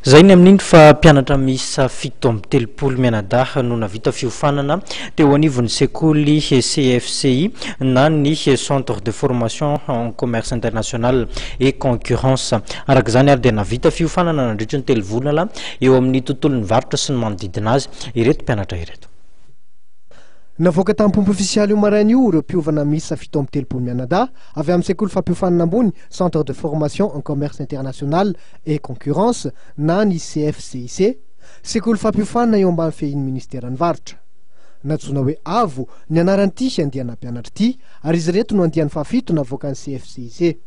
Zay ny amin'iny fa mpianatra miisa fito amby telopolo mianadahy no navita fiofanana teo anivon'ny sekoly CFCI na ny Centre de Formation en Commerce International et Concurrence. Araka izany ary dia navita fiofanana nandritry ny telo volana eo amin'ny tontolon'ny varotra sy ny manodidina azy ireto mpianatra ireto. Navoaka tamim-pomba ofisialy io maraina io ireo mpiovana miisa fito amby telopolo mianadahy avy amin'ny sekoly fampiofanana ambony Centre de Formation en Commerce International et concurrence na ny CFCIC, sekoly fampiofanina eo ambany fehin'ny Ministeran'ny Varotra. Nantsoina hoe Avo ny anaran'ity andiana mpianatra ity ary izy ireto no andiany fahafito navoakan'ny CFCIC.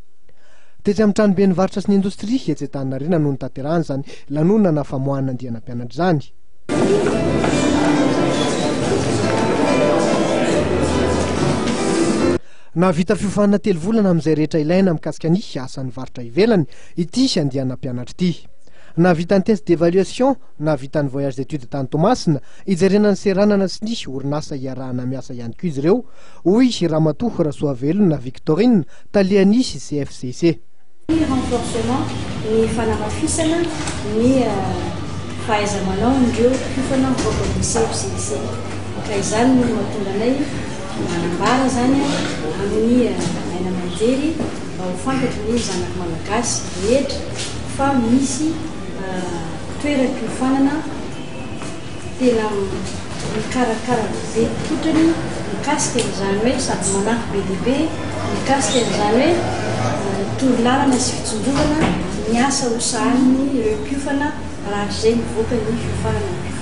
Tetsy amin'ny tranoben'ny Varotra sy ny Indostria etsy Antaninarenina no nitaterahana izany lanonana famoahana andiana mpianatra izany. Nahavita fiofanana telo volana amin'izay rehetra ilaina mikasika ny asan'ny varotra ivelany ity andiana mpianatra ity. Nahavita ny test d'évaluation, nahavita ny voyage d'études tany Toamasina, hijerena ny seranana sy ny orinasa iarahana miasa ihany koa izy ireo, hoy Ramatoa Rasoavelona Victorine, talian'ny CFCC. Ny renforcement, ny fanamafisana ny fahaiza-manaon'ireo mpiofana mivoaka ny CFCIC. Ka izany no mahatonga anay manambara izany amin'ny aina aman-jery mba ho fantatry ny zanaka malagasy rehetra fa misy toeram-piofanana. Tsy tena mikarakara gazety fotrany mikasika an'izany hoe sady manampy be dia be mikasika an'izany hoe toro lalana sy fitsongovana ny asa ho sahaniny ireo mpiofana rahatrizay mivoaka ny fiofanana ny mpiofana.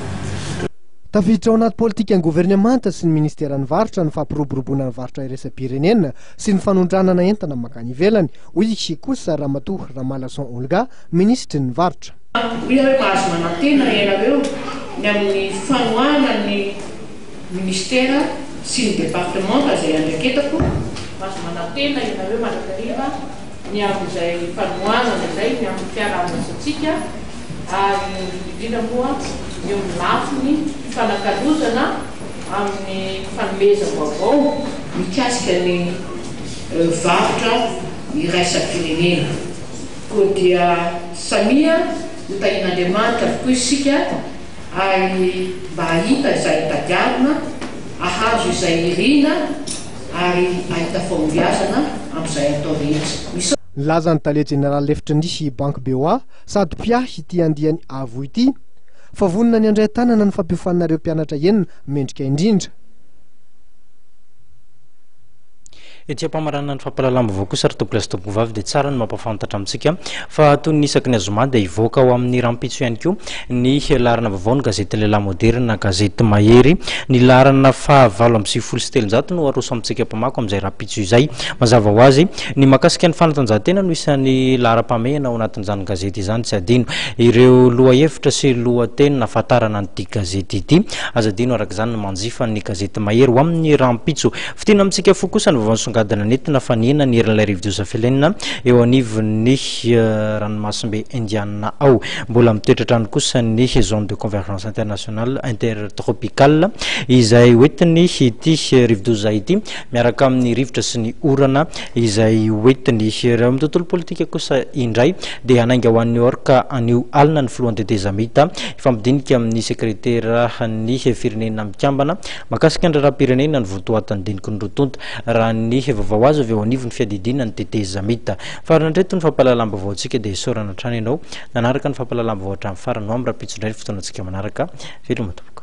Tafiditra ao anaty politikan'ny governemanta sy ny ministeran'ny varotra ny fampiroboroboana ny varotra iraisam-pirenena sy ny fanondranana entana mankany ivelany, hoy i Kikosa Ramatoa Ramalason Olga, minisitry ny varotra. Hoy aho hoe mahazo manantena ianareo ny amin'ny fanohanana ny Minisitera sy ny Departemanta izay andraiketako, mahazo manantena ianareo mandrakariva ny amin'izay fanohanana izay ny amin'ny fiaraha-miasantsika ary indrindra moa eo amin'ny lafiny fifanakalozana amin'ny fanomezam-baovao mikasika ny varotra iraisam-pirenena. Koa dia samia ho tahin'Andriamanitra avokoa isika ary mba hahita izay tadiavina, hahazo izay irina ary hahita fahombiazana amin'izay atao rehetra. Nilaza ny tale jeneraly lefitry ny Banky BOA sady mpiahy ity andiany avo ity fa vonona ny handray an-tanana ny fampiofanana ireo mpianatra enina mendrika indrindra. Etsy am-pamaranana ny fampahalalam-baovao kosa ry tompolahy sy tompovavy dia tsara ny mampahafantatra amintsika fa toy ny isaky ny azoma dia hivoaka ao amin'ny rahampitso ihany koa ny laharana vaovao ny gazety Lehilahy Moderina, gazety mahery. Ny laharana faha valo amby sivifolo sy telonjato no aroso amintsika mpamako amin'izay rahampitso izay. Mazava ho azy, ny mahakasika ny fanatanjahantena no isan'ny laharam-pahamehana ao anatin'izany gazety izany. Tsy adino ireo lohahevitra sy lohateny nahafantarana an'ity gazety ity. Aza adino araka izany ny manjifa ny gazety mahery ho amin'ny rahampitso. Fintinina amintsika fo kosa ny vaovao nisongadina nentina fanehina ny herin'ilay rivodoza Felena eo anivon'ny eh, ranomasimbe Indiana ao. Mbola mitoetra hatrany kosa ny zone de convergence internationale intertropicale izay hoentiny ity rivodoza ity miaraka amin'ny rivotra sy ny orana izay hoentiny. Raha amin'ny tontolo politika kosa indray dia hanainga ho any New York anio alina ny filohan'ny tetezamita hifampidinika amin'ny sekreteran'ny firenena mikambana Mahakasika ny raharaham-pirenena ny vontoatin'ny diniky ny roa tonta, raha ny vaovao azo avy eo anivon'ny fiadidiana ny tetezamita. Farany hatreto ny fampahalalam-baovaontsika dia isaorana hatrany ianao nanaraka ny fampahalalam-baovao hatramin'ny farany ho amin'ny rahampitso indray ny fotoanantsika manaraka. Veloma tompoko.